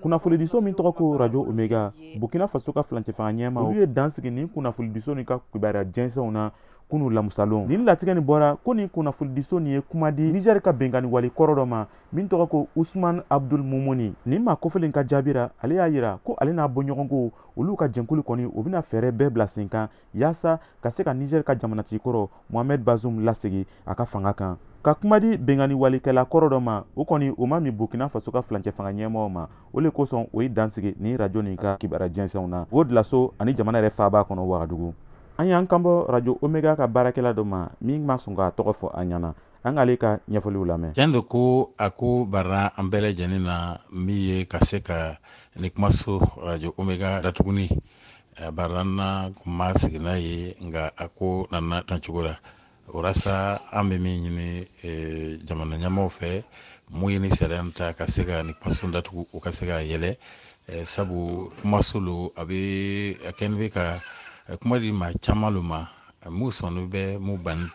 kunnafonidiso min tɔgɔ ko rajo omega burkina faso ka filancɛfanga ɲɛmaa olu ye dan sigi nin kunnafonidiso nin ka kibaruya jɛnsɛnw na kunu lamusalon nin latigɛ nin bɔra ko nin kunnafonidiso nin ye kuma di nizɛri ka benkanni wale kɔrɔ dɔ ma min tɔgɔ ko usman abdul mumuni nin maa kofɔlen ka jaabi ra ale y'a yira ko ale n'a bɔɲɔgɔnko olu ka jɛnkulu kɔni o bɛna fɛɛrɛ bɛɛ bila sen kan yaasa ka se ka niger ka jamanatigi kɔrɔ mohamed bazum lasegi a ka fanga kan ka kuma di benkanni walikɛla kɔrɔ dɔ ma o kɔni o ma min burkina faso ka filancɛ fanga ɲɛmɔgɔw ma o le kosɔn o ye dan sigi nin rajo nin ka kibara jɛnsɛnw na o julaso ani jamana yɛrɛ faaba kɔnɔ wagadugu an y'an kanbɔ rajo omega ka baarakɛla dɔ ma min ma sɔn k'a tɔgɔ fɔ an ɲɛna an k'ale ka ɲɛfɔliw lamɛn tiɲɛ don ko a ko barra an bɛɛ lajɛlen na min ye ka se ka ni kumaso rajo omega datugu nin a barra an na kun ma sigi n'a ye nka a ko nana tan cogo la walasa an bɛ min ɲini eh, jamana ɲɛmɔgɔw fɛ mun ye ni sariya in ta ka se ka ni kumaso datugu o ka se k'a yɛlɛ eh, sabu kumaso lo a bɛ a kɛni bɛ ka eh, kuma di maa caman lo ma eh, mun sɔnnin bɛ mun bannin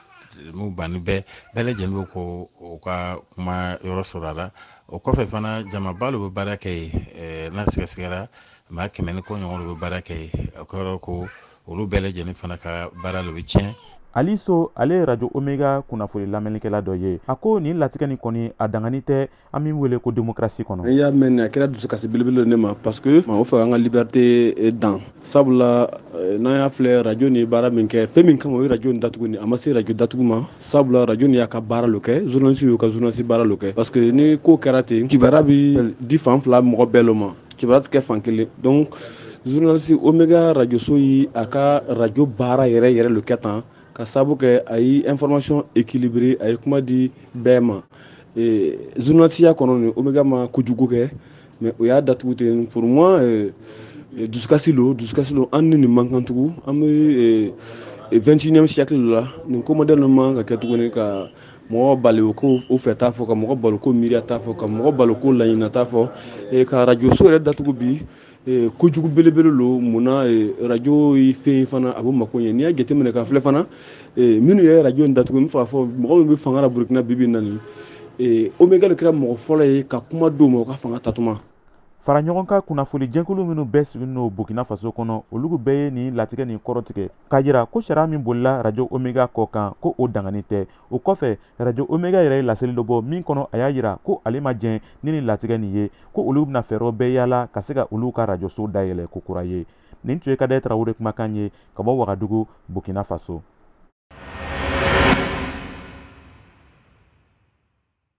mun bannin bɛ bɛɛ lajɛlen bɛ ko o ka kuma yɔrɔ sɔrɔ a la o kɔfɛ fana jamaba lo bɛ baara kɛ yen eh, n'a sɛgɛsɛgɛra maa kɛmɛ ni kɔ ɲɔgɔn lo bɛ baara kɛ yen o kɔrɔ ko olu bɛɛ lajɛlen fana ka baara lo bɛ tiɲɛ ali so ale ye radio omega kunnafoni lamɛnnikɛla dɔ ye a ko nin latigɛ ni kɔni a daganin tɛ an min wele ko demokrasi kɔnɔ n y'a mɛn a kɛra dusukasi belebele ne ma parce que o fɛ an ka liberté eh, dan sabula eh, n'an y'a filɛ radio ni ye baara min kɛ fɛn min kama o ye radio ni datugu ni a ma se radio datugu ma sabula radio ni y'a ka baara lo kɛ journaliste y'u ka journaliste baara lo kɛ parce que ni ko kɛra ten kibara bi di fan fila mɔgɔ bɛɛ lo ma kibara tɛ kɛ fan kelen donc journaliste omega rajoso ye a ka rajo baara yɛrɛ yɛrɛ lo kɛ tan k'a sabu kɛ a ye information équilibré a ye kuma di bɛɛ ma eh, journalisiya kɔnɔ ni omega ma kojugu kɛ mais o y'a datugu ten pour moi eh, eh, dusukasi lo dusukasi lo an ni nin man kan tugun an bɛ 21e siècle la nin ko modèle man ka kɛ tuguni ka mɔgɔ bali k'u fɛta fɔ ka mɔgɔ bali k'o miiriyata fɔ ka mɔgɔ bali k'o laɲinita fɔ eh, ka arajoso yɛrɛ datugu bi eh, kojugu belebele lo munna eh, arajo ye fɛn fana a b'o mako ɲɛ n'i y'a jateminɛ ka filɛ fana minnu ye arajo in datugu n fɔ mɔgɔ min bɛ fanga la burukina bibi na nin omega le kɛra mɔgɔ fɔlɔ ye ka kuma di u ma u ka fanga ta tuma fara ɲɔgɔn kan kunnafoni jɛkulu minnu bɛɛ sigilen don burkina faso kɔnɔ olu bɛɛ ye nin latigɛ nin kɔrɔtigɛ k'a jira ko sariya min bolila rajo omega kɔ kan ko o daganin tɛ o kɔfɛ rajo omega yɛrɛ ye laseli dɔ bɔ min kɔnɔ a y'a jira ko ale ma jɛn ni nin latigɛ nin ye ko olu bɛna fɛɛrɛw bɛɛ yaala ka se ka olu ka rajoso dayɛlɛ ko kura ye nin tun ye kadɛ tarawele kumakan ye ka bɔ wagadugu burkina faso